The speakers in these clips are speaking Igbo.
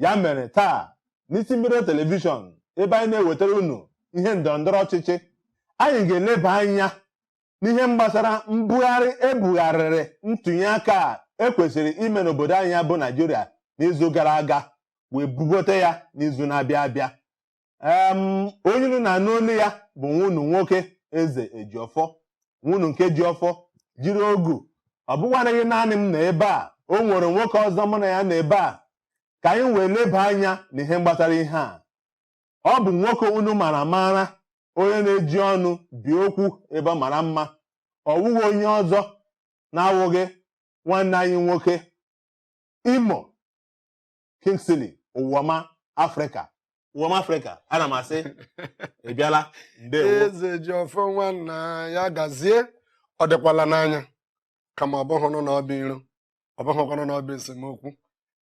ya mere taa n'isi mbido telivishọn ebe anyị na-ewetara unu ihe ndọrọ ndọrọ ọchịchị anyị ga-eleba anya n'ihe gbasara mbugharị e bugharịrị ntụnye aka a e kwesịrị ime n'obodo anyị bụ naijiria n'izu gara aga wee bugote ya n'izu na-abịa abịa em onye unu na-anụ olu ya bụ nwa unu nwoke eze ejiọfọ nwa unu nke ji ọfọ jiri ogu ọ bụkwanaghị naanị m nọ ebe a o nwere nwoke ọzọ mụ na ya nọ ebe a ka anyị wee leba anya na ihe gbasara ihe a ọ bụ nwoke unu mara amara onye na-eji ọnụ bi okwu ebe ọ mara mma ọ wụghị onye ọzọ na-awụghị nwanne anyị nwoke imo Kingsley Ụwaọma Afrịka Ụwaọma Afrịka ana m asị ị bịala ndewo Eze Ejiọfọ nwanna ya gazie ọ dịkwala n'anya kama ọ bụghịnụ na ọ bụ iro ọ bụghịkwanụ na ọ bụ esemokwu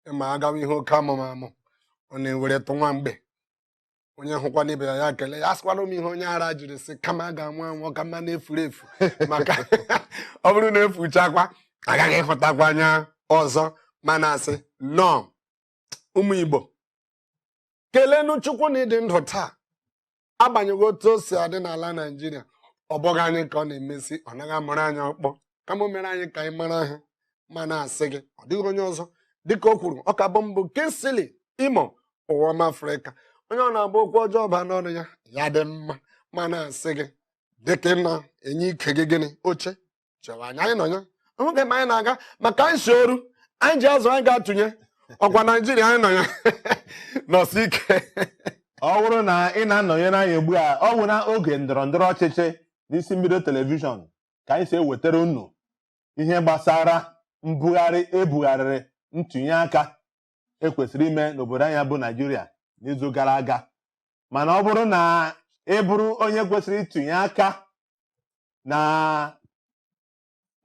ị ma a gawa ihe oke amụmamụ ọ na-eweretụ nwa mgbe onye hụkwanụ ibe ya ya kelee ya asịkwala m ihe onye ara jiri sị kama a ga-anwụ anwụ ka mma na e furu efu maka ọ bụrụ na e fuchakwa agaghị ịhụtakwa anya ọzọ mana asị nnọọ ụmụ Igbo kelenu Chukwu na ịdị ndụ taa agbanyeghị otu o si adị n'ala Naijiria ọ bụghị anyị ka ọ na-emesi ọ naghị amụrụ anyị ọkpọ kama o mere anyị ka anyị mara ha ma na-asị gị ọ dịghị onye ọzọ dịka o kwuru ọ ka bụ mụ bụ kingsley imo ụwaọma afrịka onye ọ na-abụ okwu ọjọọ baa n'ọnụ ya ya dị mma ma na-asị gị dịka ị na-enye ike gị gịnị oche chewa anyị anyị nọ ya oge ma anyị na-aga maka anyị si oru anyị ji azụ anyị ga-atụnye ọ kwa naijiria anyị nọ ya nọsi ike ọ bụrụ na ị na-anọnyere anyị ugbu a ọ bụ na oge ndọrọ ndọrọ ọchịchị n'isi mbido telivishọn ka anyị si ewetara unu ihe gbasara mbugharị e bugharịrị ntụnye aka e kwesịrị ime n'obodo anyị bụ naijiria n'izu gara aga mana ọ bụrụ na ị bụrụ onye kwesịrị ịtụnye aka na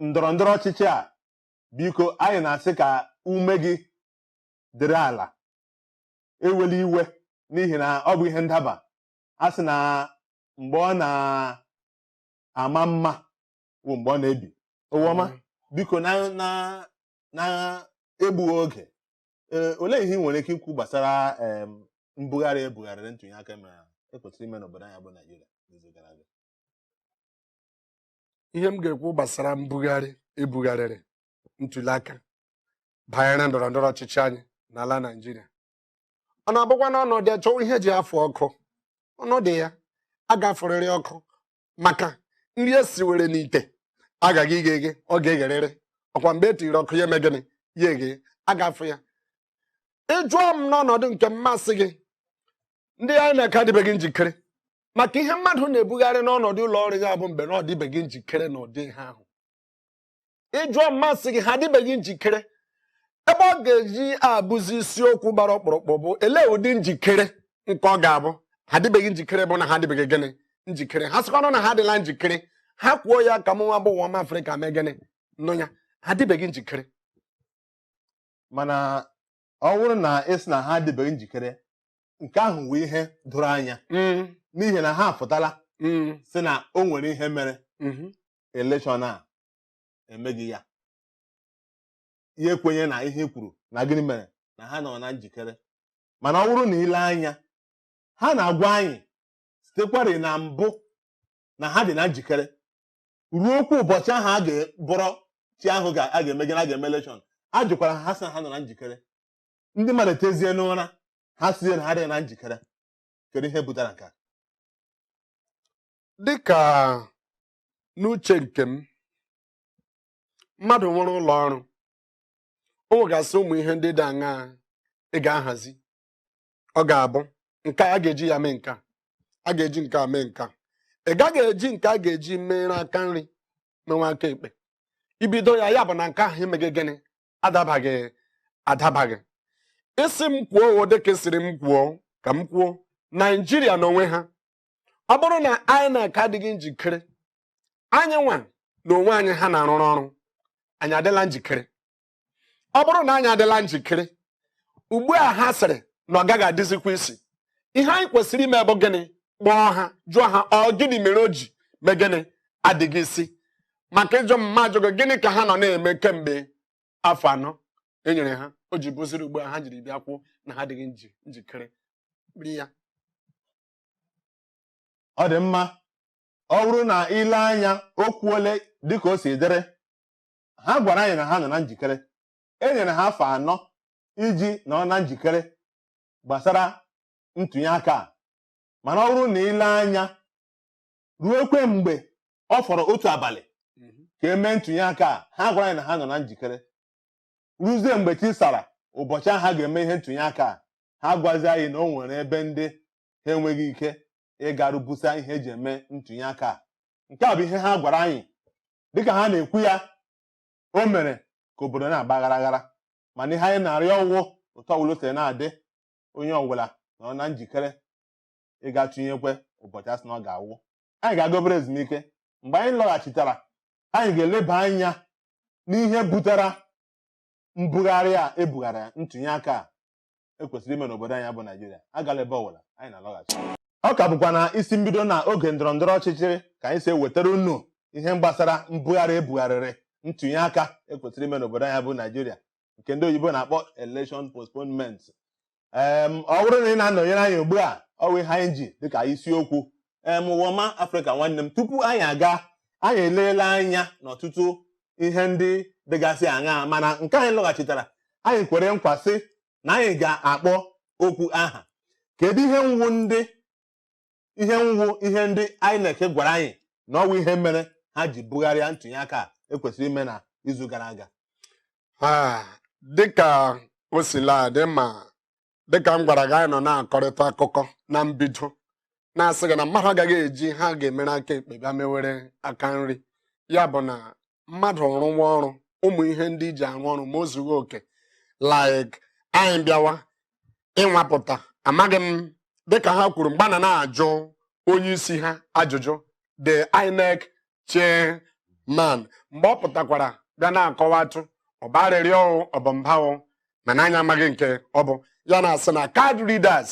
ndọrọ ndọrọ ọchịchị a biko anyị na-asị ka ume gị dịrị ala ewela iwe n'ihi na ọ bụ ihe ndaba a sị na mgbe ọ na ama mma bụ mgbe ọ na-ebi Ụwaọma biko na na na egbughị oge ee olee ihe ị nwere ike ikwu gbasara em, mbugharị e bugharịrị ntụnye aka mere e kwesịrị ime n'obodo anyị bụ Naijiria n'izu gara aga ihe m ga-ekwu gbasara mbugharị e bugharịrị ntuli aka banyere ndọrọ ndọrọ ọchịchị anyị n'ala Naịjirịa ọ na-abụkwa na ọnọdụ ya chọwa ihe e ji afụ ọkụ ọnọdụ ya a ga-afụrịrị ọkụ maka nri e siwere n'ite agaghị ighe eghe ọ ga-egherịrị ọkwa mgbe e tiri ọkụ ya eme gịnị ya eghe a ga-afụ ya ị jụọ m n'ọnọdụ nke m m asị gị ndị INEC adịbeghị njikere maka ihe mmadụ na-ebugharị n'ọnọdụ ụlọ ọrụ ya bụ mgbe na ọ dịbeghị njikere na ụdị ihe ahụ ị jụọ m m asị gị ha adịbeghị njikere ebe ọ ga-eji abụzi isiokwu gbara ọkpụrụkpụ bụ elee ụdị njikere nke ọ ga-abụ ha adịbeghị njikere bụ na ha adịbeghị gịnị njikere ha sịkwanụ na ha adịla njikere ha kwuo ya ka mụnwa bụ ụwa m afrịka mee gịnị nụ ya ha adịbeghị njikere mana ọ bụrụ na ị sị na ha adịbeghị njikere nke ahụ wụ ihe doro anya n'ihi na ha apụtala sị na o nwere ihe mere elekshọn a emeghị ya ya ekwenye na ihe kwuru na gịnị mere na ha nọ na njikere mana ọ bụrụ na i lee anya ha na-agwa anyị sitekwari na mbụ na ha dị na njikere ruokwa ụbọchị ahụ ga-abụrụ echi ahụ ga- a ga-eme gịnị a ga-eme elekshọn a jụkwara ha ha sị na ha nọ na njikere ndị mmadụ tezie n'ụra ha sịzie na ha dị na njikere kedu ihe butere nke a dịka n'uche nke m mmadụ nwere ụlọ ọrụ o nwegasị ụmụ ihe ndị dị aṅaa ị ga-ahazi ọ ga-abụ nke a ga-eji ya mee nka a ga-eji nke a mee nka ị gaghị eji nke a ga-eji meere aka nri menwe aka ekpe i bido ya ya bụ na nke ahụ emeghị gịnị adabaghị adabaghị ị sị m kwuo ọ dịka a sịrị m kwuo ka m kwuo naijiria n'onwe ha ọ bụrụ na INEC adịghị njikere anyị nwa na onwe anyị ha na-arụrụ ọrụ anyị adịla njikere ọ bụrụ na anyị adịla njikere ugbu a ha sịrị na ọ gaghị adịzikwa isi ihe anyị kwesịrị ime bụ gịnị kpọọ ha jụọ ha ọ gịnị mere o ji mee gịnị adịghị isi maka ị jụọ m m ajụ gị gịnị ka ha nọ na-eme kemgbe afọ anọ e nyere ha o ji bụziri ugbu a ha jiri bịa kwuo na ha adịghị njikere ya ọ dị mma ọ bụrụ na i lee anya okwu ole dịka o si dịrị ha gwara anyị na ha nọ na njikere e nyere ha afọ anọ iji nọ na njikere gbasara ntụnye aka a mana ọ bụrụ na i lee anya ruokwa mgbe ọ fọrọ otu abalị mhm. ka e mee ntụnye aka a ha gwara anyị na ha nọ na njikere ruzie mgbe chi sara ụbọchị ahụ ha ga-eme ihe ntụnye aka a ha gwazi anyị na o nwere ebe ndị ha enweghị ike ịgaru busa ihe eji eme ntụnye aka a. nke a bụ ihe ha gwara anyị dịka ha na-ekwu ya o mere ka obodo na-agba aghara aghara mana ihe anyị na-arịọ ọwụ otu ọbụla o siri na-adị onye ọbụla nọ na njikere ịga tụnyekwe ụbọchị asị na ọ ga-awụ anyị ga-aga obere ezumike mgbe anyị lọghachitara anyị ga-eleba anya n'ihe butere mbugharị a ebugharịrị ntụnye aka a ekwesịrị ime n'obodo anyị bụ Naijiria agala ebe ọbụla anyị na-alọghachi ọ ka bụkwa na isi mbido na oge ndọrọ ndọrọ ọchịchị ka anyị si ewetara unu ihe gbasara mbugharị ebugharịrị ntụnye aka ekwesịrị ime n'obodo anyị bụ Naijiria nke ndị oyibo na-akpọ election postponement ọ bụrụ na ị na-anọnyere anyị ugbu a ọwụ ihe anyị ji dịka isiokwu em ụwọma afrịka nwanne m tupu anyị aga anyị eleela anya n'ọtụtụ ihe ndị dịgasị aṅaa mana nke anyị lọghachitara anyị kwere nkwa sị na anyị ga-akpọ okwu aha kedu ihe wụ ndị ihe wụ ihe ndị INEC gwara anyị na ọwụ ihe mere ha ji bugharịa ntụnye aka a ekwesịrị ime na izu gara aga Ah, dịka o sila adị ma dịka m gwara gị anyị nọ na-akọrịta akụkọ na mbido na-asị gị na mmadụ agaghị eji ihe a ga-emere aka ekpe bịa mewere aka nri ya bụ na mmadụ rụwa ọrụ ụmụ ihe ndị i ji arụ ọrụ ma o zughị oke like anyị bịawa ịnwapụta amaghị m dịka ha kwuru mgbe a na-ajụ onye isi ha ajụjụ the INEC chairman mgbe ọ pụtakwara bịa na-akọwatụ ọ bụ arịrịọ ọ bụ mba o mana anyị amaghị nke ọ bụ ya na-asị na card readers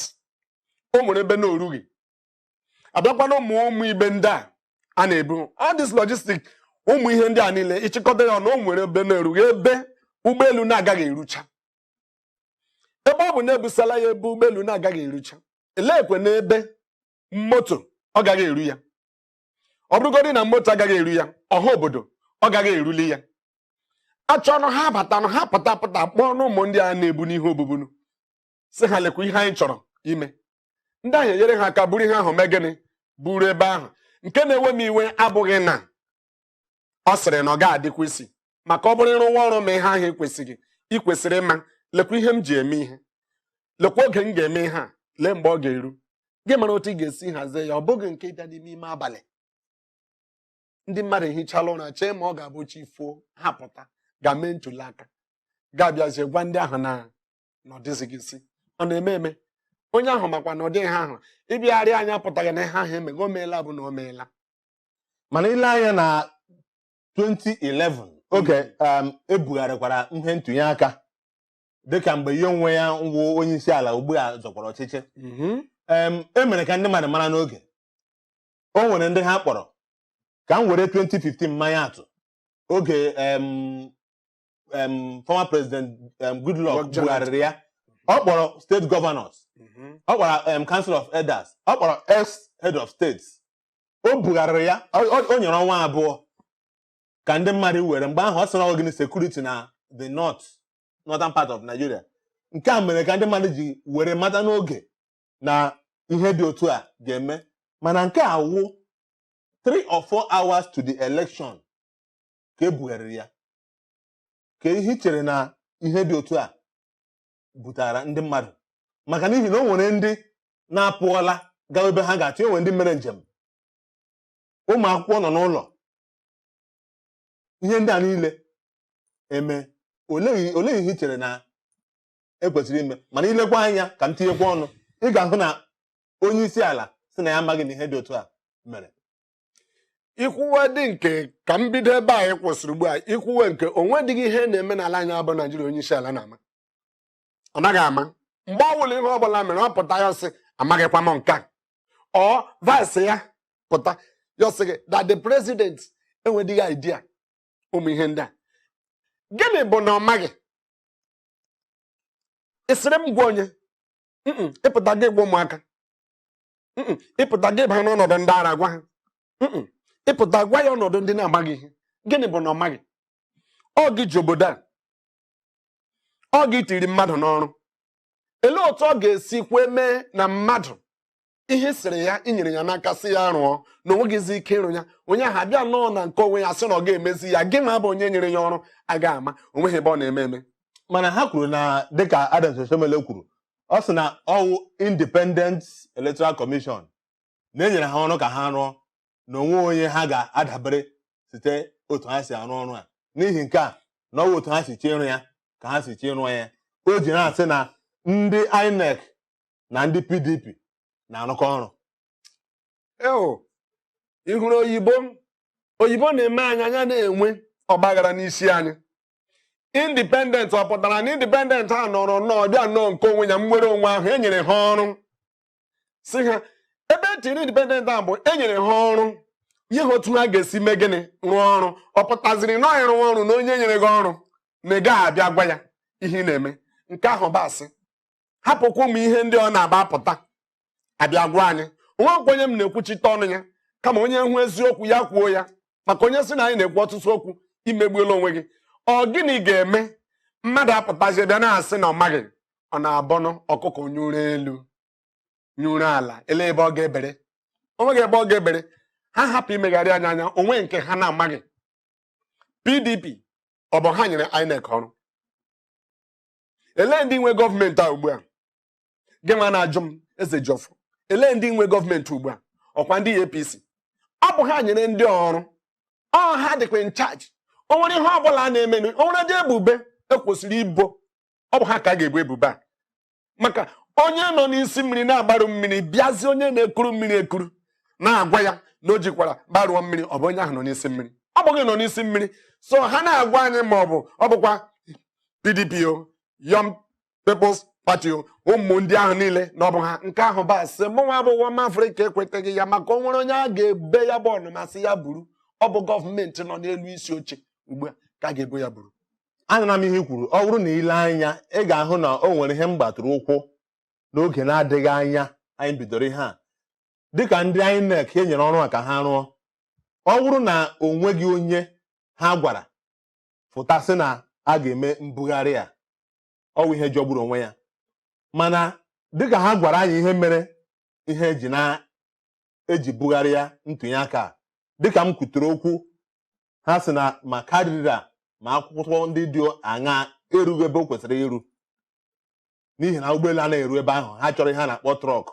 o nwere ebe na o rughị abịakwa na ụmụ ụmụ ibu ndị a a na-ebu all this logistic ụmụ ihe ndị a niile ị chịkọta ya na o nwere ebe na-erughị ebe ụgbọelu na-agaghị erucha ebe ọ bụ na ebusala ya ebe ụgbọelu na-agaghị erucha elekwe n'ebe moto ọ gaghị eru ya ọ bụrụgodị na moto agaghị eru ya ọha obodo ọ gaghị eruli ya achọnụ ha batanụ ha pụta pụta kpọọnụ ụmụ ndị a na-ebu n'ihe obubunu sị ha lekwa ihe anyị chọrọ ime ndị ahụ enyere ha aka buru ihe ahụ mee gịnị buru ebe ahụ nke na-ewe m iwe abụghị na ọ sịrị na ọ ga-adịkwa isi maka ọ bụrụ ị rụwa ọrụ ma ihe ahụ ekwesịghị ị kwesịrị ịma lekwa ihe m ji eme ihe lekwa oge m ga-eme ihe a lee mgbe ọ ga-eru gị mara otu ị ga-esi hazie ya ọ bụghị nke ịbịa n'ime ime abalị ndị mmadụ ehichala ụra chee ma ọ ga-abụ chi foo ha pụta gaa mee ntuli aka gị abịazie gwa ndị ahụ na na ọ dịzighị isi ọ na-eme eme onye ahụ makwa na ọ dịghị ha ahụ ịbịagharị anya pụtaghị na ihe ahụ emego o meela bụ na o meela mana i lee anya na 2011 oge um, ebugharịkwara ihe ntụnye aka dịka mgbe ya onwe ya wụ onye isi ala ugbu a zọkwara ọchịchị Mhm. em, e mere ka ndị mmadụ mara n'oge o nwere ndị ha kpọrọ ka m were 2015 maa ya atụ oge em, em, former president em, goodluck Goodluck Jonathan. bugharịrị ya ọ kpọrọ state governors Mhm. ọ kpọrọ em, council of elders ọ kpọrọ ex head of states o bugharịrị ya ọ- ọ- o nyere ọnwa abụọ ka ndị mmadụ were mgbe ahụ ọ sị na ọ wụ gịnị security na the north northern part of Nigeria nke a mere ka ndị mmadụ ji were mata n'oge na ihe dị otu a ga-eme mana nke a wụ three or four hours to the election ka e bugharịrị ya kee ihe i chere na ihe dị otu a butara ndị mmadụ maka n'ihi na o nwere ndị na-apụọla gawa ebe ha ga-achọ e nwere ndị mere njem ụmụ akwụkwọ nọ n'ụlọ ihe ndị a niile eme olee ihe i chere na e kwesịrị ime mana i lekwa anya ka m tinyekwa ọnụ ị ga-ahụ na onye isi ala sị na ya amaghị na ihe dị otu a mere i kwuwedị nke ka m bido ebe a kwụsịrị ugbu a i kwuwe nke o nwedịghị ihe na-eme n'ala anyị a bụ naijiria onye isi ala na-ama ọ naghị ama mgbe ọ bụla ihe ọ bụla mere ọ pụta ya asị amaghịkwa m nke a or vice ya pụta ya asị gị that the president enwedịghị idea ụmụ ihe ndị a gịnị bụ na ọ maghị ị sịrị m gwa onye ị pụta gị gwa ụmụaka ị pụta gị baa n'ọnọdụ ndị ara gwa ha ị pụta gwa ya ọnọdụ ndị na-amaghị ihe gịnị bụ na ọ maghị ọ gị ji obodo a ọ gị tiri mmadụ n'ọrụ elee otu ọ ga-esi kwe mee na mmadụ ihe sịrị ya i nyere ya n'aka sị ya rụọ na o nweghịzi ike ịrụ ya onye ahụ abịa nọọ na nke onwe ya sị na ọ ga-emezi ya gị nwa bụ onye nyere ya ọrụ agaghị ama o nweghị ebe ọ na-eme eme mana ha kwuru na dịka Adams Oshiomhole kwuru ọ sị na ọ wụ Independent Electoral Commission na e nyere ha ọrụ ka ha rụọ na o nweghị onye ha ga-adabere site otu ha si arụ ọrụ a n'ihi nke a na ọ wụ otu ha si chee ịrụ ya ka ha si chee ịrụ ya o ji na-asị na ndị INEC na ndị PDP na-arụkọ ọrụ eo ị hụrụ oyibo oyibo na-eme anyị anya na-enwe ọgbaghara n'isi anyị independent ọ pụtara na independent a nọọrọ nnọọ bịa nọọ nke onwe ya nnwere onwe ahụ e nyere ha ọrụ sị ha ebe e tiri independent a bụ e nyere ha ọrụ ihe ha otu ha ga-esi mee gịnị rụọ ọrụ ọ pụtaziri na ịrụ ọrụ na onye nyere gị ọrụ na ị gaghị abịa gwa ya ihe ị na-eme nke ahụ bụ asị hapụkwa ụmụ ihe ndị ọ na-abụ apụta abịa agwa anyị onweghịkwa onye m na-ekwuchite ọnụ ya kama onye hụ eziokwu ya kwuo ya maka onye sị na anyị na-ekwu ọtụtụ okwu imegbuola onwe gị ọ gịnị ga-eme mmadụ apụtazie bịa na-asị na ọ maghị ọ na-abụnụ ọkụkọ nyụrụ elu nyụrụ ala ele ebe ọ ga-ebere onweghị ebe ọ ga-ebere ha hapụ imegharị anyị anya onwe nke ha na-amaghị pdp ọ bụ ha nyere inec ọrụ elee ndị nwe gọọmenti a ugbu a gị nwa na-ajụ m ezejiọfọ elee ndị nwe gọọmenti ugbu a ọkwa ndị apc ọ bụ ha nyere ndị ọrụ ọ ha dịkwa in charge o nwere ihe ọ bụla a na-eme o nwere ụdị ebubo ekwesịrị ibo ọ bụ ha ka a ga-ebo ebubo a maka onye nọ n'isi mmiri na-agbarụ mmiri bịazi onye na-ekuru mmiri ekuru na-agwa ya na o jikwara gbarụọ mmiri ọ bụ onye ahụ nọ n'isi mmiri ọ bụ gị nọ n'isi mmiri so ha na-agwa anyị ma ọ bụ ọ bụkwa pdp o Young People's Party o ụmụ ndị ahụ niile na ọ bụ ha nke ahụ bụ asị mụnwa bụ ọma afrịka ekwetaghị ya maka o nwere onye a ga-ebo ya bụ ọnụma sị ya buru ọ bụ gọọmenti nọ n'elu isi oche ugbu a ka a ga-ebo ya buru anụna m ihe i kwuru ọ wụrụ na ile anya ị ga-ahụ na o nwere ihe m gbatụrụ ụkwụ n'oge na-adịghị anya anyị bidoro ihe a dịka ndị INEC e nyere ọrụ a ka ha rụọ ọ wụrụ na o nweghị onye ha gwara fụta sị na a ga-eme mbugharị a ọ wụ ihe jọgburu onwe ya mana dịka ha gwara anyị ihe mere ihe eji na-eji bugharịa ntụnye aka a dịka m kwutere okwu ha sị na ma card reader ma akwụkwọ ndị dị aṅa erughị ebe o kwesịrị iru n'ihi na ụgbọelu anaghị eru ebe ahụ ha chọrọ ihe a na-akpọ trọk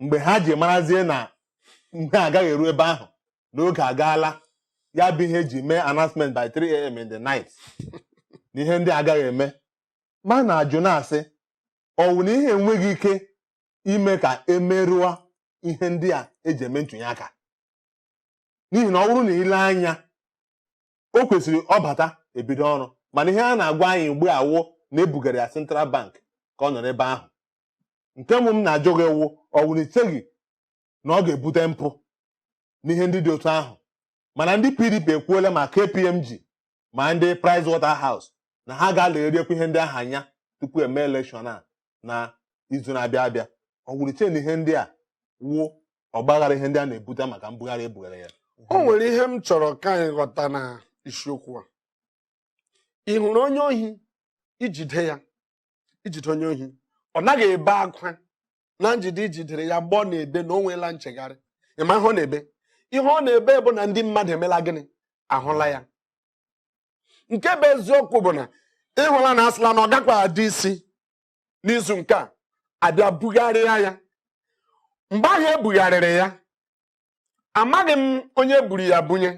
mgbe ha ji marazie na ihe a agaghị eru ebe ahụ n'oge agaala ya bụ ihe eji mee announcement by 3am in the night na ihe ndị a agaghị eme ma na-ajụ na-asị ọ wụ na ihe enweghị ike ime ka emerụọ ihe ndị a eji eme ntụnye aka n'ihi na ọ wụrụ na ile anya o kwesịrị ọ bata ebido ọrụ mana ihe a na-agwa anyị ugbu a wụ na ebugara ya central bank ka ọ nọrọ ebe ahụ nke mbụ m na-ajụ gị wụ ọ wụ na icheghị na ọ ga-ebute mpụ n'ihe ndị dị otu ahụ mana ndị pdp ekwuola ma kpmg ma ndị Price Waterhouse na ha ga-alegheriekwa ihe ndị ahụ anya tupu eme elekshọn a na izu na-abịa abịa ọ wụrụ iche na ihe ndị a wụ ọgbaghara ihe ndị a na-ebute maka mbugharị ebugharị ya o nwere ihe m chọrọ ka anyị ghọta na isiokwu a ị hụrụ onye ohi ijide ya ijide onye ohi ọ naghị ebe akwa na njide ijidere ya mgbe ọ na-ebe na o nweela nchegharị ịma ihe ọ na-ebe ihe ọ na-ebe bụ na ndị mmadụ emela gịnị ahụla ya nke bụ eziokwu bụ na ịhụla na asịla na ọ gakwara adị isi n'izu nke a abịa bugharịa ya mgbe ahụ ebugharịrị ya amaghị m onye buru ya bunye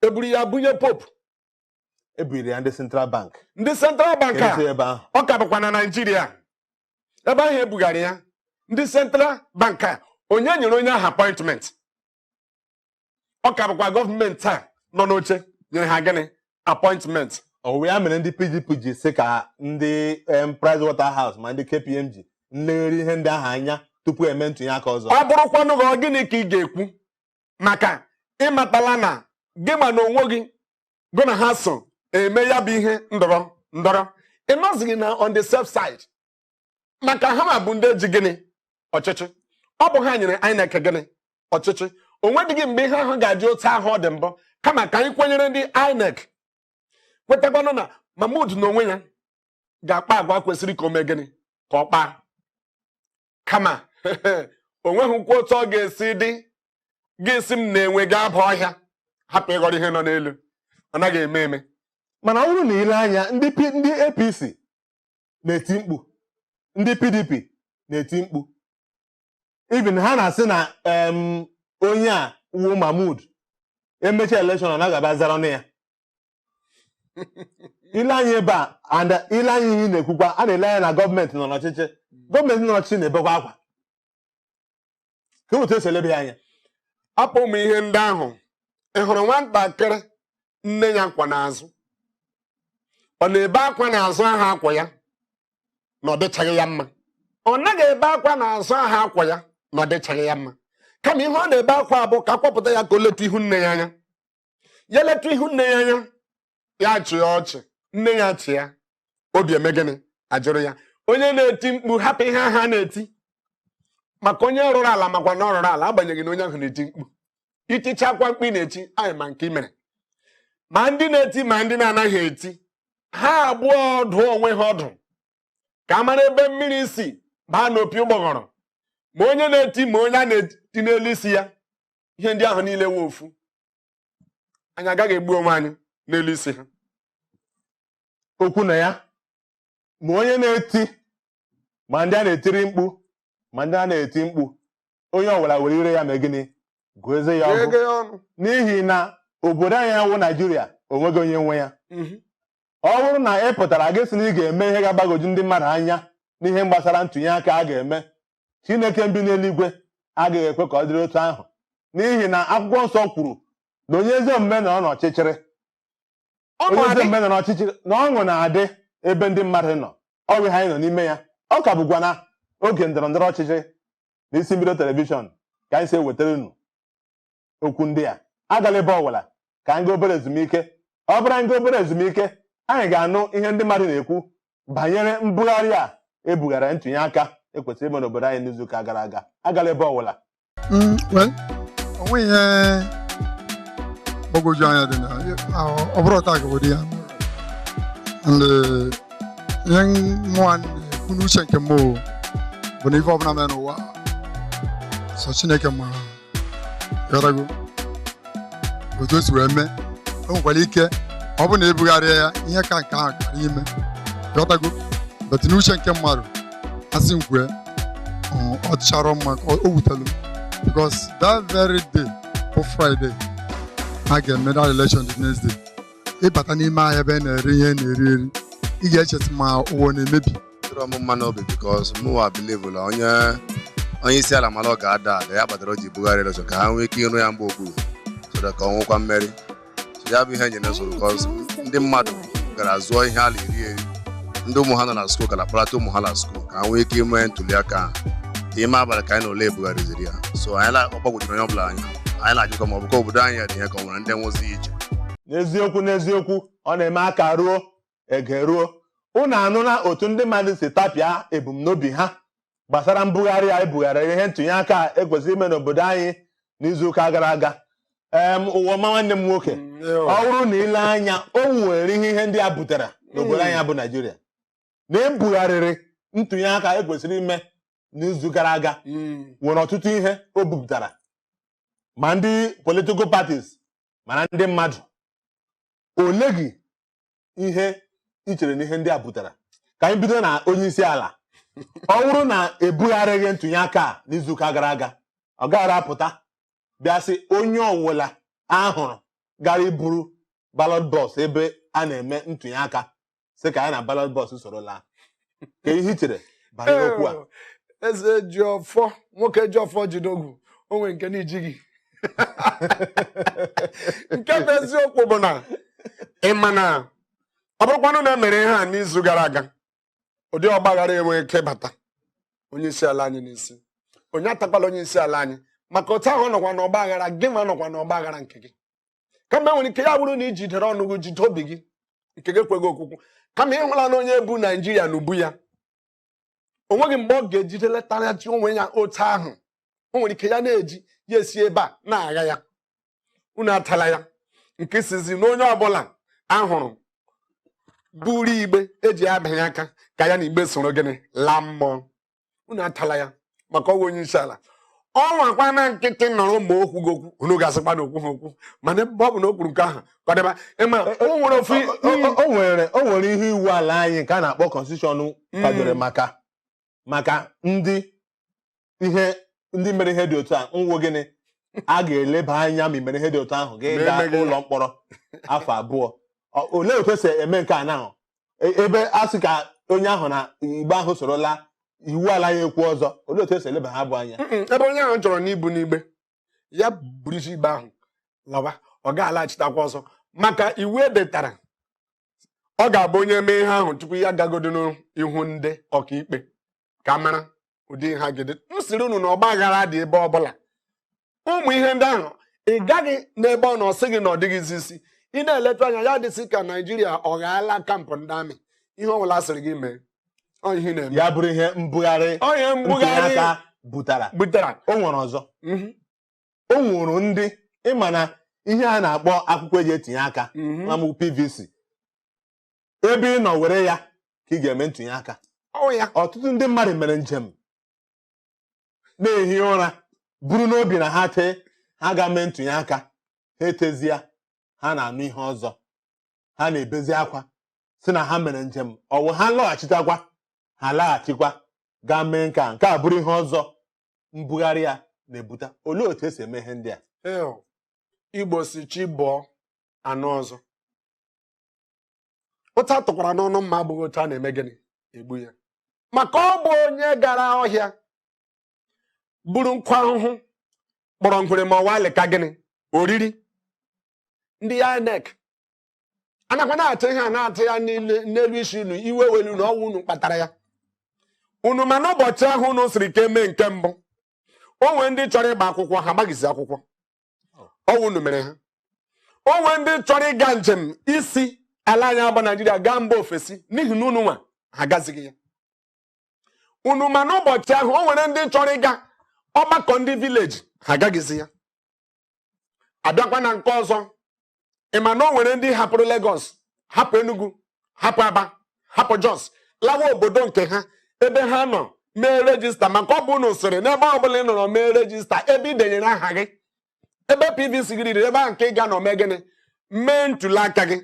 eburu ya bunye popu ebugara ya ndị central bank ndị central bank a ọ ka bụkwa na naịjirịa ebe ahụ ebugara ya ndị central bank a onye nyere onye ahụ appointment ọ ka bụkwa gọọmenti a nọ n'oche nyere ha gịnị appointment ọ bụ ya mere ndị pdp ji sị ka ndị em, price water house ma ndị kpmg nlegharị ihe ndị ahụ anya tupu eme ntụnye aka ọzọ ọ bụrụkwanụ gị ọ gịnị ka ị ga-ekwu maka ịmatala na gị nwa na onwe gị gụ na ha so eme ya bụ ihe ndọrọ ndọrọ ị nọzighị na on the safe side maka ha nwa bụ ndị ji gịnị ọchịchị ọ bụ ha nyere INEC gịnị ọchịchị o nwedịghị mgbe ihe ahụ ga-adị otu ahụ ọ dị mbụ kama ka anyị kwenyere ndị INEC kwetakwanụ na Mahmood na onwe ya ga-akpa agwa kwesịrị ka o mee gịnị ka ọ kpaa kama o nweghịkwa otu ọ ga-esi dị gị sị m na enwe ga-aba ọhịa hapụ ịghọrọ ihe nọ n'elu ọ naghị eme eme mana ọ bụrụ na ile anya ndị P- ndị apc na-eti mkpu ndị pdp na-eti mkpu even ha na-asị na em, onye a wụ mahmud emecha elekshọn na ọ ga-abịa zara ọnụ ya ile anya ebe a and ile anya ihe ị na-ekwukwa a na-ele anya na gọọmenti nọ n'ọchịchị gọọmenti nọ n'ọchịchị na-ebekwa akwa ka otu esi elebe ya anya hapụ ụmụ ihe ndị ahụ ị hụrụ nwatakịrị nne ya kwọ n'azụ ọ na-ebe akwa n'azụ ahụ a kwọ ya na ọ dịchaghị ya mma ọ naghị ebe akwa n'azụ ahụ a kwọ ya na ọ dịchaghị ya mma kama ihe ọ na-ebe akwa bụ ka a kwọpụta ya ka o letu ihu nne ya anya ya letu ihu nne ya anya ya chịa ọchị nne ya achịa obi eme gịnị ajụrụ ya onye na-eti mkpu hapụ ihe ahụ a na-eti maka onye rụrụ ala makwa na ọ rụrụ ala agbanyeghị na onye ahụ na-eti mkpu itichakwa mkpu ị na-eti anyị ma nke i mere ma ndị na-eti ma ndị na-anaghị eti ha abụọ dụọ onwe ha ọdụ ka a mara ebe mmiri si baa n'opi ụgbọghọrọ ma onye na-eti ma onye a na-eti n'elu isi ya ihe ndị ahụ niile wee ofu anyị agaghị egbu onwe anyị n'elu isi ha okwu na ya ma onye na-eti ma ndị a na-etiri mkpu ma ndị a na-eti mkpu onye ọbụla were ire ya mee gịnị gụọ eze ya ọgụ Eze ya ọnụ. n'ihi na obodo anyị wụ naijiria o nweghị onye nwe ya Mhm. ọ bụrụ na ị pụtara gị sị na ị ga-eme ihe ga-agbagwoju ndị mmadụ anya n'ihe gbasara ntụnye aka a ga-eme Chineke bi n'eluigwe agaghị ekwe ka ọ dịrị otu ahụ n'ihi na akwụkwọ nsọ kwuru na onye ezi omume nọ n'ọchịchịrị onye ezi omume nọ n'ọchịchịrị na ọṅụ na-adị ebe ndị mmadụ nọ ọ bụ ihe anyị nọ n'ime ya ọ ka bụkwa na oge ndọrọ ndọrọ ọchịchịrị na isi mbido telivishọn ka anyị si ewetara unu okwu ndị a agala ebe ọwụla ka anyị gaa obere ezumike ọ bụrụ anyị gaa obere ezumike anyị ga-anụ ihe ndị mmadụ na-ekwu banyere mbugharị a e bughara ntụnye aka e kwesịrị ime n'obodo anyị n'izuụka gara aga agala ebe ọwụla Mm, well, o nweghị ihe gbagwoju anya dị na ahụ- ọ bụrụ taa gawodi ya and eh, ihe mụa na-ekwu n'uche nke m o, bụ na ife ọbụla mere n'ụwa sọ Chineke ma Ghọtago? otu o si wee mee o nwekwara ike ọ bụrụ na ebugharịa ya ihe ka nke ahụ kara ime ghọtago but n'uche nke mmadụ a sị m kwue ọ- ọ dịchara mma ka o wutelu m because that very day bụ Friday a ga-eme that election the next day ịbata n'ime ahịa ebe a na-ere ihe a na-eri eri ị ga-eche sị ma ụwa ọ na-emebi tụrụ m mma n'obi because mụwa believe la onye isi ala mara ọ ga-ada ada ya kpatara o ji bugharị election ka ha nwee ike ịrụ ya mgba okpuru so that ka o nwekwa mmeri so ya bụ ihe nyere nsogbu because ndị mmadụ gara zụọ ihe a la-eri eri ndị ụmụ ha nọ na skuul gara kpọlata ụmụ ha na skuul ka ha nwee ike ime ntuli aka ahụ n'ime abalị ka anyị nụ la e bugharịziri ya so anyị na- ọ gbagwojuru onye ọbụla anya anyị na-ajụkwa ma ọ bụkwa obodo anyị ya dị ihe ka o nwere ndị nwezi iche n'eziokwu n'eziokwu ọ na-eme a karuo e geruo unu anụla otu ndị mmadụ si tapịa ebumnobi ha gbasara mbugharị a e bugharịrị ihe ntụnye aka e kwesịrị ime n'obodo anyị n'izuụka gara aga em Ụwaọma nwanne m nwoke Mm, eh, ọ bụrụ na i lee anya o nwere ihe ihe ndị a butere n'obodo anyị bụ naijiria na e bugharịrị ntụnye aka e kwesịrị ime n'izu gara aga mm, nwere ọtụtụ ihe o bupụtara ma ndị political parties ma na ndị mmadụ ole gị ihe i chere na ihe ndị a butere ka anyị bido na onye isi ala ọ bụrụ na ebugharịghị ntụnye aka a n'izuụka gara aga ọ gaghara apụta bịa sị onye ọwụla a hụrụ gara iburu ballot box ebe a na-eme ntụnye aka sị ka ya na ballot box soro laa ka ihe i chere banyere okwu a Ee, eze ji ọfọ nwoke ji ọfọ jide ogu o nwere nke na-ejighị nke bụ eziokwu bụ na ị ma na ọ bụrụkwanụ na emere ihe a n'izu gara aga ụdị ọgbaghara enwe ike ịbata onye isi ala anyị n'isi onye atakwala onye isi ala anyị maka otu ahụ ọ nọkwa n'ọgbaghara gịnwa nọkwa n'ọgbaghara nke gị kama enwere ike ya bụrụ na i jidere ọnụ gị jide obi gị nke gị ekweghị okwukwu kama ịhụla na onye bu naijiria n'ubu ya o nweghị mgbe ọ ga-ejide letaghachi onwe ya otu ahụ o nwere ike ya na-eji ya esi ebe a na-agha ya unu atala ya nke ịsịzi na onye ọbụla ahụrụ buru igbe eji abịanye aka ka ya na igbe soro gịnị laa mmụọ unu atala ya maka ọ wụ onye isi ala ọ nọwakwa na nkịtị nọrọ ma o kwughị okwu unu ga-asịkwa na o kwughị okwu mana ebe ọ bụ na o kwuru nke ahụ ka ọ dịba ịma o nwere ofu o nwere o nwere ihe iwu ala anyị nke a na-akpọ constitution mm. kwadoro maka maka ndị ihe ndị mere ihe dị otu a wụ gịnị a ga-eleba anya ma i mere ihe dị otu ahụ gị gaa ụlọ mkpọrọ afọ abụọ olee otu esi eme nke a na E- ebe a sị ka onye ahụ na igbe ahụ soro laa iwu ala ya ekwu ọzọ olee otu esi eleba ha abụọ anya Mm-mm, ebe onye ahụ chọrọ n'ibu n'igbe ya buruzi igbe ahụ lawa ọ ga-alaghachitakwa ọzọ maka iwu edetara ọ ga-abụ onye mee ihe ahụ tupu ya gagodi n'ihu ndị ọkaikpe ka a mara ụdị ha ga-ede m sịrị unu na ọgba aghara dị ebe ọbụla ụmụ ihe ndị ahụ ị gaghị n'ebe ọ nọ ọ sị gị na ọ dịghịzi isi ị na-eletụ anya ya adịzi ka naijiria ọ ghọọla camp ndị army ihe ọ bụla a sịrị gị mee ihe na-eme ya bụrụ ihe mbugharị onye mbugharị butara butara o nwere ọzọ mhm. o nwere ndị ịma na ihe a na-akpọ akwụkwọ eji etinye aka mhm. ma PVC ebe ị nọ were ya ka ị ga-eme ntụnye aka ya ọtụtụ ndị mmadụ mere njem na-ehi ụra buru n'obi na ha tee ha gaa mee ntụnye aka ha etezie ha na-anụ ihe ọzọ ha na-ebezi akwa sị na ha mere njem ọ wụ ha lọghachitakwa ha laghachikwa gaa mee nke a nke a bụrụ ihe ọzọ mbugharị ya na-ebute olee otu esi eme ihe ndị a igbo sị chi bọọ a nụ ọzọ otu a tụkwara n'ọnụ mma abụghị otu a na-eme gịnị egbu ya maka ọ bụ onye gara ọhịa buru nkụ ahụhụ kpọrọ ngwere ma ọ wụ alịka gịnị oriri ndị INEC anakwa na-atụ ihe a na-atụ ya n'elu isi unu iwe ewela unu na ọ wụ unu kpatara ya unu ma n'ụbọchị ahụ unu sịrị ka e mee nke mbụ o nwee ndị chọrọ ịgba akwụkwọ ha agbaghịzi akwụkwọ ọwụ unu mere ha o nwere ndị chọrọ ịga njem isi ala anyị a bụ naijiria gaa mba ofesi n'ihi na unu nwa ha agazighị ya unu ma n'ụbọchị ahụ o nwere ndị chọrọ ịga ọgbakọ ndị vileji ha agaghịzi ya abịakwa na nke ọzọ ị ma na o nwere ndị hapụrụ Lagos hapụ Enugu hapụ Aba hapụ Jos lawa obodo nke ha ebe ha nọ mee rejista maka ọ bụ unu sịrị n'ebe ọ bụla ị nọrọ mee rejista ebe ị denyere aha gị ebe PVC gị dịrị ebe ahụ nke ị ga-anọ mee gịnị mee ntuli aka gị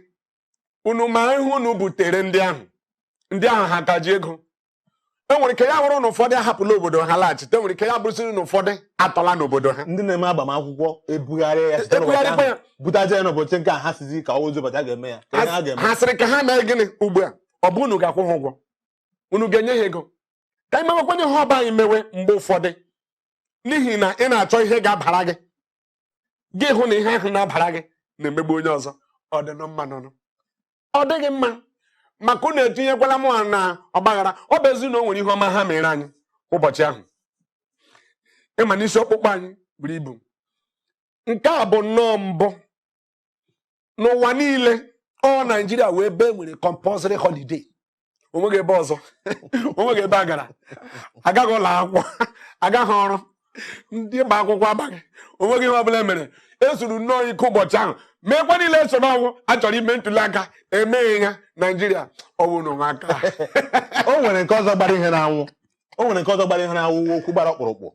unu ma ihe unu butere ndị ahụ ndị ahụ ha ka ji ego enwere ike ya bụrụ na ụfọdụ ahapụla obodo ha laghachite enwere ike ya bụrụsịrị na ụfọdụ atọla n'obodo ha ndị na-eme agbamakwụkwọ ebugharị ya site n'ụbọchị ahụ butaje ya n'ụbọchị nke a ha sizi ka ọwụzi ụbọchị a ga-eme ya ka ha ga-eme ha sịrị ka ha mee gịnị ugbu a ọ bụ unu ga-akwụ ha ụgwọ unu ga-enye ha ego ka anyị mewekwanụ ihe ọ bụ anyị mewe mgbe ụfọdụ n'ihi na ị na-achọ ihe ga-abara gị gị hụ na ihe ahụ na-abara gị na-emegbu onye ọzọ ọ dị na mma nụ ọ dịghị mma maka unu etinyekwala mụ na ọgbaghara ọ bụ ezi na o nwere ihe ọma ha mere anyị ụbọchị ahụ ị ma na isi ọkpụkpọ anyị buru ibu nke a bụ nnọọ mbụ n'ụwa niile ọ naijiria wụ ebe e nwere compulsory holiday onweghị ebe ọzọ onweghị ebe a gara agaghị ụlọ akwụkwọ agaghị ọrụ ndị gba akwụkwọ agbaghị onweghị ihe ọbụla mere ezuru nnọọ ike ụbọchị ahụ meekwa niile eso na ọwụ a chọrọ ime ntuli aka emeghị ya naijiria ọwụ na ụwa aka o nwere nke ọzọ gbara ihe n'anwụ o nwere nke ọzọ gbara ihe n'anwụ wụ okwu gbara ọkpụrụkpụ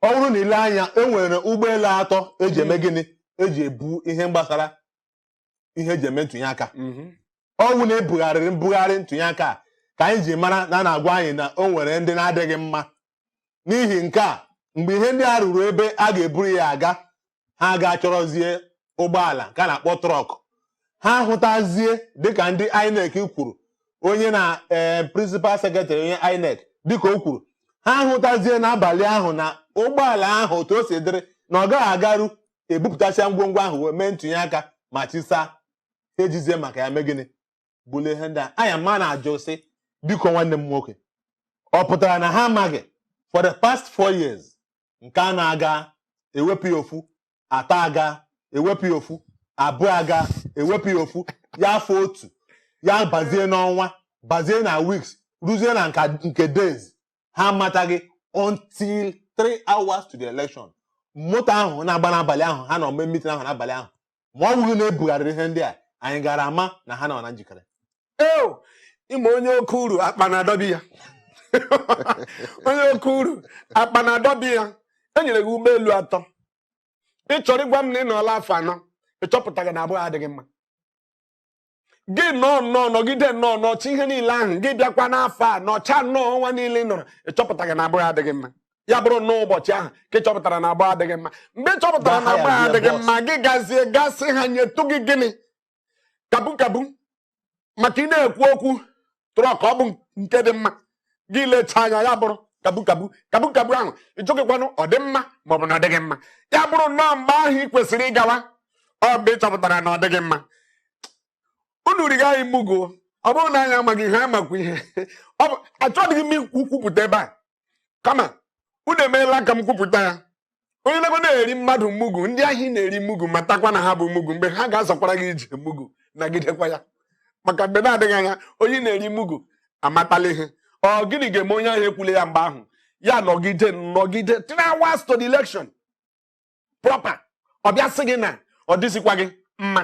ọ bụrụ na i lee anya e nwere ụgbọelu atọ eji eme gịnị eji ebu ihe gbasara ihe eji eme ntụnye aka mhm. ọwụ na ebugharịrị mbugharị ntụnye aka ka anyị ji mara na a na-agwa anyị na o nwere ndị na-adịghị mma n'ihi nke a mgbe ihe ndị a ruru ebe a ga-eburu ya aga ha aga chọrọzie ụgbọala nke a na-akpọ trọk ha hụtazie dịka ndị INEC kwuru onye na ee eh, prịnsịpal sekretarị onye INEC dịka o kwuru ha hụtazie n'abalị ahụ na ụgbọala ahụ otu o si dịrị na ọ gaghị agaru ebupụtasịa ngwongwo ahụ wee mee ntụnye aka ma chi saa ha ejizie maka ya mee gịnị bulie ihe ndị a anya ma na-ajụ sị biko nwanne m nwoke ọ pụtara na ha amaghị for the past four years nke anọ aga ewepụ ya ofu atọ aga ewepụ ya ofu abụọ aga ewepụ ya ofu ya fọ otu ya bazie n'ọnwa bazie na weeks ruzie na nka- nke days ha amataghị until three hours to the election moto ahụ na-agba n'abalị ahụ ha nọ mee mitin ahụ n'abalị ahụ ma ọ bụghị na ebugharịrị ihe ndị a anyị gara ama na ha nọ na njikere eo ịma onye oke uru akpa na-adọbi ya onye oke uru akpa na-adọbi ya enyere gị ụgbọelu atọ ị chọrọ ịgwa m na ị nọọla afọ anọ ị chọpụtaghị na abụọ adịghị mma gị nọọ nnọọ nọgide nnọọ nọcha ihe niile ahụ gị bịakwa n'afọ a nọcha nnọọ ọnwa niile ị nọrọ ị chọpụtaghị na abụọ adịghị mma ya bụrụ nnọọ ụbọchị ahụ ka ị chọpụtara na abụọ adịghị mma mgbe ị chọpụtara na abụọ adịghị mma gị gazie ga sị ha nyetụ gị gịnị kabu kabu maka ị na-ekwu okwu trọk ọ bụ nke dị mma gị lecha anya ya bụrụ kabu kabu kabu kabu ahụ ị jụghịkwanụ ọ dị mma maọbụ na ọ dịghị mma ya bụrụ nnọọ mgbe ahụ ị kwesịrị ịgawa ọ mgbe ị chọpụtara na ọ dịghị mma unu riga anyị mugu ọ bụrụ na anyị amaghị ihe anyị makwa ihe ọ bụ achọghị m ikwupụta ebe a kama unu emeela ka m kwupụta ya onye na na-eri mmadụ mugu ndị ahụ ị na-eri mugu matakwa na ha bụ mugu mgbe ha ga-azọkwara gị ije mugu nagidekwa ya maka mgbe na-adịghị anya onye na-eri mugu amatala ihe ọ gịnị ga-eme onye ahụ ekwule ya mgbe ahụ ya nọgide nọgide three hours to the election proper ọ bịa sị gị na ọ dịzikwaghị mma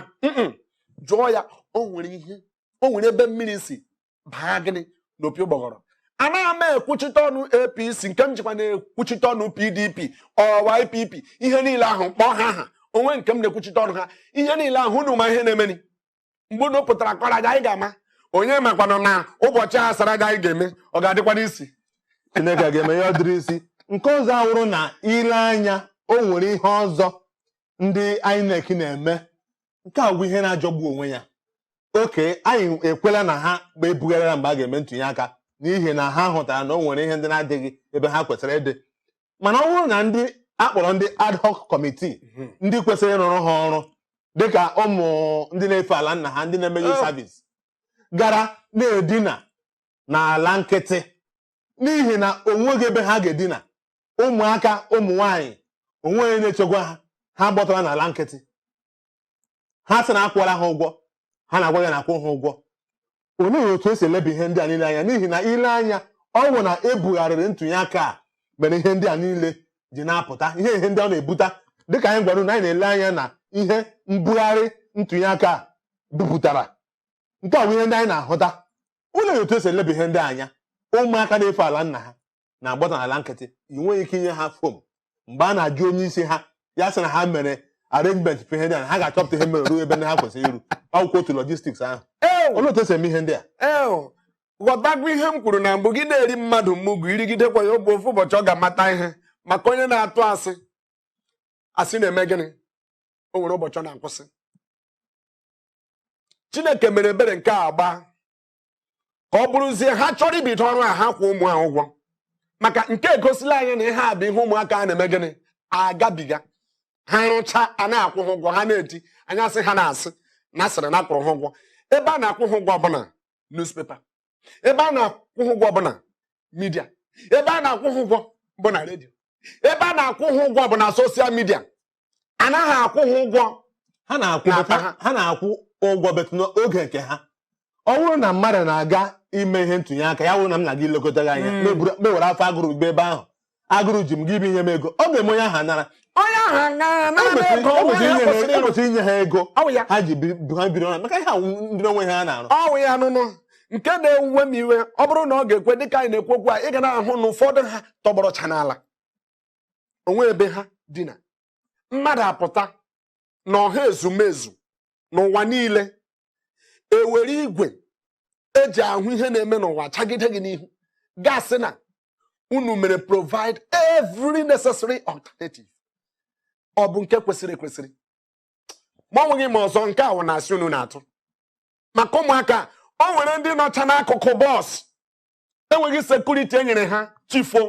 jụọ ya o nwere ihe o nwere ebe mmiri si baa gịnị n'opi ụgbọgọrọ anaghị m ekwuchite ọnụ apc nke m jikwa na-ekwuchite ọnụ pdp or ypp ihe niile ahụ kpọọ ha aha onwe nke m na-ekwuchite ọnụ ha ihe niile ahụ unu ma ihe na-emeni mgbe unu pụtara kọrọ aja anyị ga-ama onye makwanụ na ụbọchị a sara aja anyị ga-eme ọ ga-adịkwanụ easy chineke ga-eme ya ọ dịrị easy nke ọzọ awụrụ na i lee anya o nwere ihe ọzọ ndị INEC na-eme nke a bụ ihe na-ajọgbu onwe ya okay anyị ekwela na ha ma ebugharịra mgbe a ga-eme ntụnye aka n'ihi na ha hụtara na o nwere ihe ndị na-adịghị ebe ha kwesịrị ịdị mana ọ bụrụ na ndị akpọrọ ndị ad hoc committee hmm. ndị kwesịrị ịrụrụ ha ọrụ dịka ụmụ ndị na-efe ala nna ha ndị na-eme youth service gara na-edina n'ala nkịtị n'ihi na onweghị ebe ha ga-edina ụmụaka ụmụ nwaanyị onwe onye na-echekwa ha ha gbọtara n'ala nkịtị ha sị na akwụọla ha ụgwọ ha na-agwa ya na akwụ ha ụgwọ olee otu esi eleba ihe ndị a niile anya n'ihi na i lee anya ọ bụ na ebugharịrị ntụnye aka a mere ihe ndị a niile ji na-apụta ihe ihe ndị ọ na-ebute dịka anyị gwara unu anyị na-ele anya na ihe mbugharị ntụnye aka a bupụtara nke a bụ ihe ndị anyị na-ahụta olee otu esi eleba ihe ndị a anya ụmụaka na-efe ala nna ha na-agbọta n'ala nkịtị i nweghị ike inye ha fom mgbe a na-ajụ onye isi ha ya sị na ha mere arrangement for ihe ndị a ha ga-achọpụta ihe mere ruo ebe ndị ha kwesịrị iru akwụkwọ otu logistics ahụ olee otu esi eme ihe ndị a ghọtakwa ihe m kwuru na mbụ gị na-eri mmadụ mugu irigidekwa ya oge ofu ụbọchị ọ ga-amata ihe maka onye na-atụ asị asị na-eme gịnị o nwere ụbọchị ọ na-akwụsị chineke mere ebere nke a gbaa ọ bụrụzie ha chọrọ ibido ọrụ a ha kwụ ụmụ ha ụgwọ maka nke a egosila anyị na ihe a bụ ihe ụmụaka a na-eme gịnị agabiga ha rụcha a na-akwụ ha ụgwọ ha na-eti anya sị ha na-asị na asịrị na akwụrụ ha ụgwọ ebe a na-akwụ ha ụgwọ bụ na newspaper ebe a na-akwụ ha ụgwọ bụ na midia ebe a na-akwụ ha ụgwọ bụ na redio ebe a na-akwụ ha ụgwọ bụ na soshal midia anaghị akwụ ha ụgwọ ha na-akwụ ụgwọ betụ n'oge nke ha ọ bụrụ na mmadụ na-aga ime ihe ntụnye aka ya bụrụ na m na-aga ilekọta gị anya m ewere afọ agụrụ gị ebe ahụ agụrụ ji m gị bụ inye m ego ọ ga-eme onye ahụ aṅara e kwesịrị inye ha ego ha ji ha biri ọnụ maka ihe ahụ ndị onwe ha na-arụ ọ wụ ya nụnụ nke na-ewuwe m iwe ọ bụrụ na ọ ga-ekwe dịka anyị na-ekwu okwu a ị ga na-ahụ na ụfọdụ ha tọgbọrọcha n'ala o nwe ebe ha dina mmadụ apụta na ọha ezumezu n'ụwa niile ewere igwe eji ahụ ihe na-eme n'ụwa chagide gị n'ihu ga-asị na unu mere provide every necessary alternative ọ bụ nke kwesịrị ekwesịrị ma o nweghị ma ọzọ nke a wụ na asị unu na-atụ maka ụmụaka o nwere ndị nọcha n'akụkụ bọs enweghị sekuriti e nyere ha chifo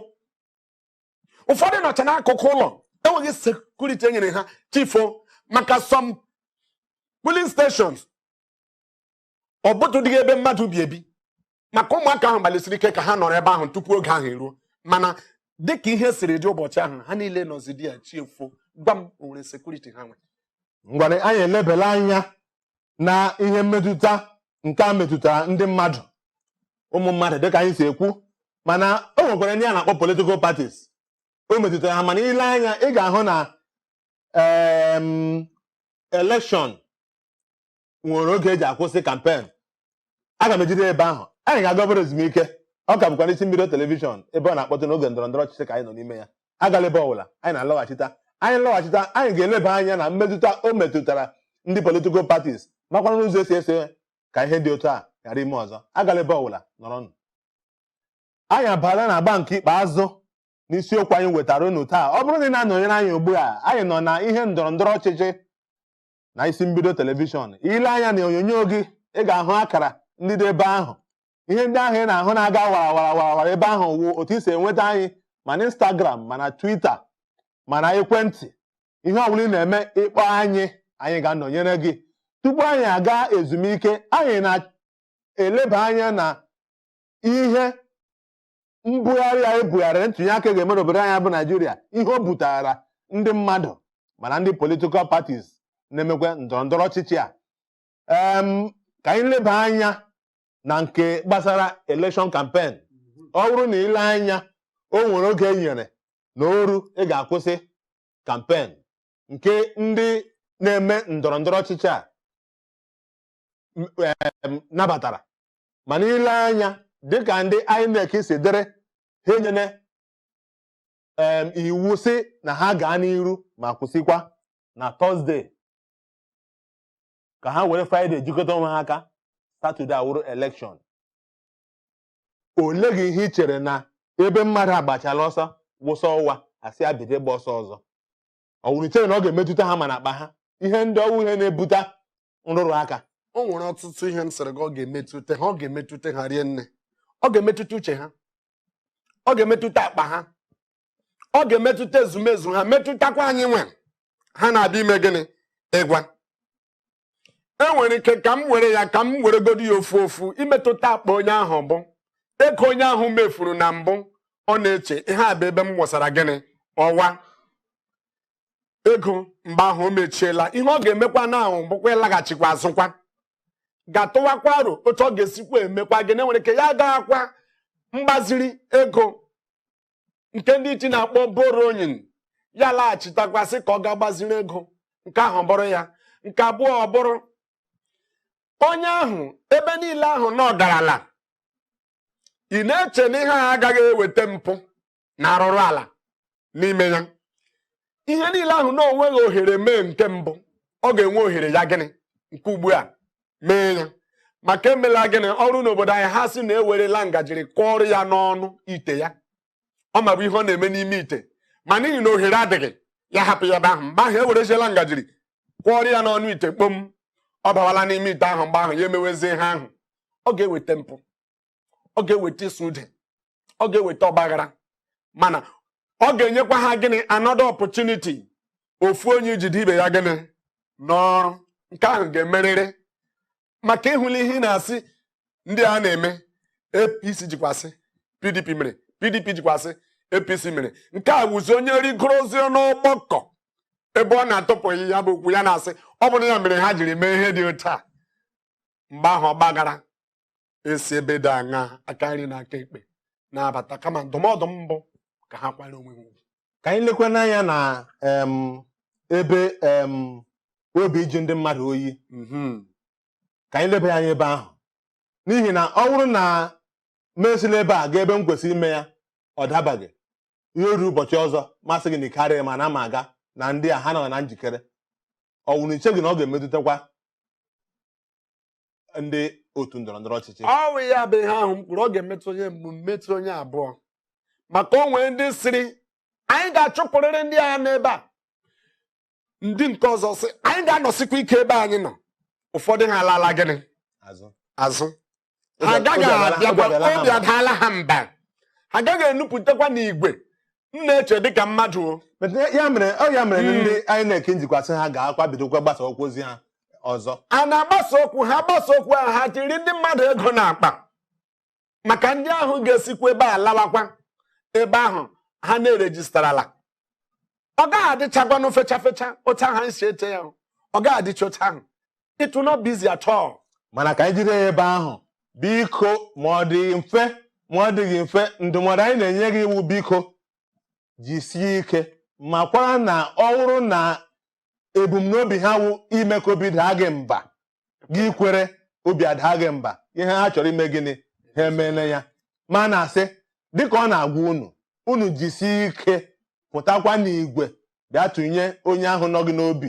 ụfọdụ nọcha n'akụkụ ụlọ enweghị sekuriti e nyere ha chifo maka some polling stations ọ bụtụdịghị ebe mmadụ bi ebi maka ụmụaka ahụ gbalịsiri ike ka ha nọrọ ebe ahụ tupu oge ahụ eruo mana dịka ihe siri dị ụbọchị ahụ ha niile nọzidi ya chifo gwa m o nwere sekuriti ha nwe ngwara anyị elebela anya na ihe mmetụta nke a metụtara ndị mmadụ ụmụ mmadụ dịka anyị si ekwu mana o nwekwara ndị a na-akpọ politikal patis o metụtara ha mana i lee anya ị ga-ahụ na elekshọn nwere oge eji akwụsị kampen aga m ejide ebe ahụ anyị ga-aga obere ezumike ọ ka bụkwa n'isi mbido telivishọn ebe ọ na-akpọtụ n'oge ndọrọ ndọrọ ọchịchị ka anyị nọ n'ime ya agala ebe ọbụla anyị na-alọghachita anyị lọghachita anyị ga-eleba anya na mmetụta o metụtara ndị politikal patis makwana n'ụzọ esi ese ka ihe dị otu a ghara ime ọzọ agala ebe ọbụla nọrọnụ anyị abala na agba nke ikpeazụ n'isiokwu anyị wetara unu taa ọ bụrụ na ị na-anọnyere anyị ugbu a anyị nọ na ihe ndọrọ ndọrọ ọchịchị na isi mbido telivishọn ile anya na onyonyo gị ị ga-ahụ akara ndị dị ebe ahụ ihe ndị ahụ ị na-ahụ na-aga wara wara wara wara ebe ahụ wụ otu i si enweta anyị ma na Instagram ma na Twitter ma na ekwentị ihe ọ bụla ị na-eme ịkpọ anyị anyị ga-anọnyere gị tupu anyị aga ezumike anyị na eleba anya na ihe mbugharị a ebugharịrị ntụnye aka ga-eme n'obodo anyị bụ naijiria ihe o butara ndị mmadụ ma na ndị political parties na-emekwa ndọrọ ndọrọ ọchịchị a Em, ka anyị leba anya na nke gbasara election campaign ọ bụrụ na i lee anya o nwere oge e nyere na o ru ị ga-akwụsị campaign nke ndị na-eme ndọrọ ndọrọ ọchịchị a nabatara mana i lee anya dịka ndị INEC si dịrị ha enyene iwu sị na ha gaa n'iru ma kwụsịkwa na Thursday ka ha were Friday jikọta onwe ha aka Saturday awụrụ election ole gị ihe ị chere na ebe mmadụ agbachala ọsọ wụsa ọwa a sị ya bido ịgba ọsọ ọzọ ọ wụrụ i chere na ọ ga-emetụta ha ma na akpa ha ihe ndị ọ wụ ihe na-ebute nrụrụ aka o nwere ọtụtụ ihe m sịrị gị ọ ga-emetụta ha ọ ga-emetụta ha rie nne ọ ga-emetụta uche ha ọ ga-emetụta akpa ha ọ ga-emetụta ezumezu ha metụtakwa anyị nwe ha na-abịa ime gịnị ịgwa e nwere ike ka m were ya ka m were godo ya ofu ofu imetụta akpa onye ahụ bụ ego onye ahụ mefuru na mbụ ọ na-eche ihe a bụ ebe m wụsara gịnị ọwa ego mgbe ahụ o mechiela ihe ọ ga-emekwa na ahụ bụkwa ịlaghachikwa azụkwa gaa tụwakwa aro otu ọ ga-esikwa emekwa gịnị enwere ike ya gaghakwa mgbaziri ego nke ndị iti na-akpọ borrowing ya laghachitakwa sị ka ọ gaa gbaziri ego nke ahụ bụrụ ya nke abụọ ọ bụrụ onye ahụ ebe niile ahụ na ọ garala ị na-eche na ihe a agaghị eweta mpụ na arụrụ ala n'ime ya ihe niile ahụ na o nweghị ohere mee nke mbụ ọ ga-enwe ohere ya gịnị nke ugbu a mee ya maka emela gịnị ọrụ n'obodo anyị ha sị na ewerela ngajiri kụọrọ ya n'ọnụ ite ya ọ mabu ihe ọ na-eme n'ime ite ma n'ihi na ohere adịghị ya hapụ ya ebe ahụ mgbe ahụ ewereziela ngajiri kụọrọ ya n'ọnụ ite kpom ọ bawala n'ime ite ahụ mgbe ahụ ya emewezie ihe ahụ ọ ga-eweta mpụ ọ ga-eweta ịsụ ude ọ ga-eweta ọgbaghara mana ọ ga-enyekwa ha gịnị another opportunity ofu onye ijide ibe ya gịnị n'ọrụ nke ahụ ga-emerịrị maka ị hụla ihe ị na-asị ndị a na-eme apc jikwasị pdp mere pdp jikwasị apc mere nke a wụzi onye rigoro ozi n'ọgbakọ ebe ọ na-atụpụghị ya bụ okwu ya na-asị ọ bụrụ ya mere ha jiri mee ihe dị otu a mgbe ahụ ọgbaghara esi ebe dị aṅa aka nri na aka ekpe na-abata kama ndụmọdụ m bụ ka ha kwanyere onwe ha ugwu ka anyị lekwa n'anya na em, ebe em, obi ịjụ ndị mmadụ oyi Mhm. ka anyị leba ya anya ebe ahụ n'ihi na ọ bụrụ na m esila ebe a gaa ebe m kwesịrị ime ya ọ dabaghị ya eruo ụbọchị ọzọ m asị gị na ike adịghị m na m aga na ndị a ha nọ na njikere ọ wụrụ i cheghị na ọ ga-emetụtakwa ndị otu ndọrọ ndọrọ ọchịchị ọ wụ ya bụ ihe ahụ m kwuru ọ ga-emetụ onye mbụ metụ onye abụọ maka o nwere ndị sịrị anyị ga-achụpụrịrị ndị a n'ebe a ndị nke ọzọ sị anyị ga-anọsikwa ike ebe anyị nọ ụfọdụ ha alaala gịnị azụ azụ ha agaghị abịakwa obi adaala ha mba ha agaghị enupụtakwa n'igwe m na-eche dịka mmadụ o But ya- ya mere ọ ya mere na Mm. ndị INEC njikwasị ha gaakwa bidokwa gbasa okwu ozi ha ọzọ a na-agbasa okwu ha gbasa okwu ahụ ha jiri ndị mmadụ ego n'akpa maka ndị ahụ ga-esikwa ebe a lawakwa ebe ahụ ha na-erejistarala ọ gaghị adịchakwanụ fecha fecha otu ahụ anyị si eche ya o. ọ gaghị adịcha otu ahụ it will not be easy at all. mana ka anyị jide ya ebe ahụ biko ma ọ dị mfe ma ọ dịghị mfe ndụmọdụ anyị na-enye gị wụ biko jisie ike makwara na ọ bụrụ na ebumnobi ha wụ ime ka obi daa gị mba gị kwere obi adaa gị mba ihe ha chọrọ ime gịnị ha emeela ya ma a na-asị dịka ọ na-agwa unu unu jisie ike pụtakwa n'igwe bịa tụnye onye ahụ nọ gị n'obi